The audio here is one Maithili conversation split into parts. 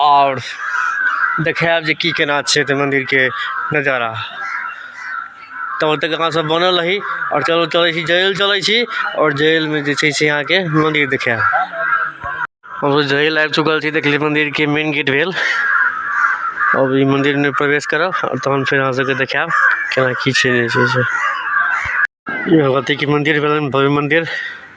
आओर देखायब जे की केना छै एतऽ मन्दिरके नजारा तब तक अहाँ सब बनल रही आओर चलू चलय छी जेल चलय छी आओर जेलमे जे छै से अहाँके मन्दिर देखायब हमसब जेल आबि चुकल छी देखली मन्दिरके मेन गेट भेल अब ई मन्दिरमे प्रवेश करब आओर तहन फेर अहाँ सबके देखायब केना की छै जे छै से भगवतीके मन्दिर भेलनि भव्य मन्दिर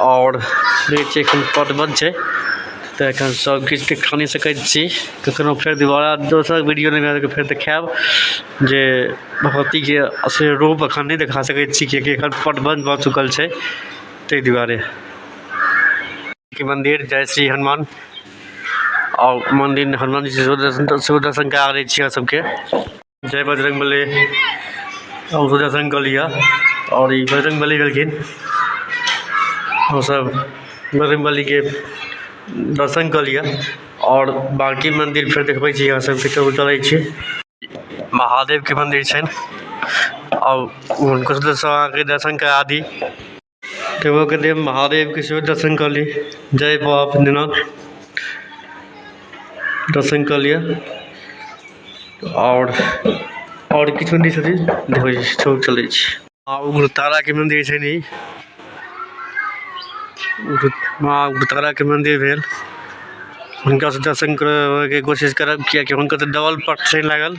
आओर फ्रिज छै एखन पट बन्द छै तऽ एखन सब किछु के खा नहि सकै छी कखनो फेर दुबारा दोसर वीडियो मे आबि कऽ फेर देखायब जे भगवती के असली रूप अखन नहि देखा सकै छी किएकि एखन पट बन्द भऽ चुकल छै ताहि दुआरे मन्दिर जय श्री हनुमान आओर मन्दिर हनुमान जी सेहो दर्शन करा दै छी अहाँ सबके जय बजरङ्ग बली हम सोचै छलहुँ गली यऽ आओर ई बजरङ्ग बली भेलखिन हम सब बजरङ्ग बलीके दर्शन कऽ लिअ आओर बाँकी मन्दिर फेर देखबै छी अहाँ सबके चलू चलै छी महादेवके मन्दिर छनि आओर हुनकोसँ अहाँके दर्शन करा दी टेबो के देव महादेव के सेहो दर्शन कऽ ली जय बाबा भोलेनाथ दर्शन कऽ लिअ आओर आओर किछु मन्दिर छथिन देखबै छी चल चलै छी माँ उग्रतारा के मन्दिर छै नी माँ उग्रतारा के मन्दिर भेल हुनका से दर्शन करय के कोशिश करब कियाकि हुनका तऽ डबल पट ट्रेन लागल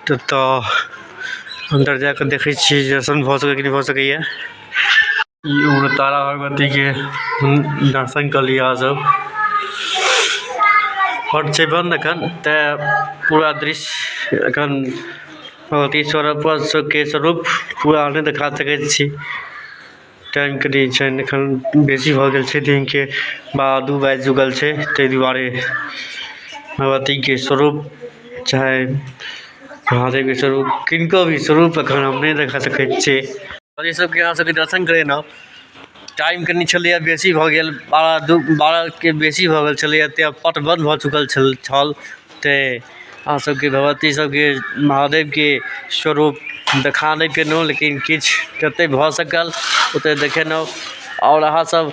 तऽ तऽ अन्दर जाकऽ देखै छियै जे दर्शन भऽ सकैया कि नहि भऽ सकैया उग्रतारा भगवतीके दर्शन कऽ लिअ अहाँ सब आओर छै बन्द एखन तैं पूरा दृश्य एखन भगवती स्वरूपके स्वरूप पूरा नहि देखा सकै छी टाइम कनि छै एखन बेसी भऽ गेल छै दिनके बारह दू बाजि चुकल छै तै दुआरे भगवतीके स्वरूप चाहे महादेवके स्वरूप किनको भी स्वरूप एखन हम नहि देखा सकै छी आओर ई सबके अहाँ सबके दर्शन करेलहुँ टाइम कनी छलैए बेसी भऽ गेल बारह दू बारहके बेसी भऽ गेल छलैए तेँ पट बन्द भऽ चुकल छल छल तेँ अहाँ सबके भगवती सबके महादेवके स्वरूप देखा नहि पेलहुँ लेकिन किछु जते भऽ सकल ओते देखेलहुँ आओर अहाँ सब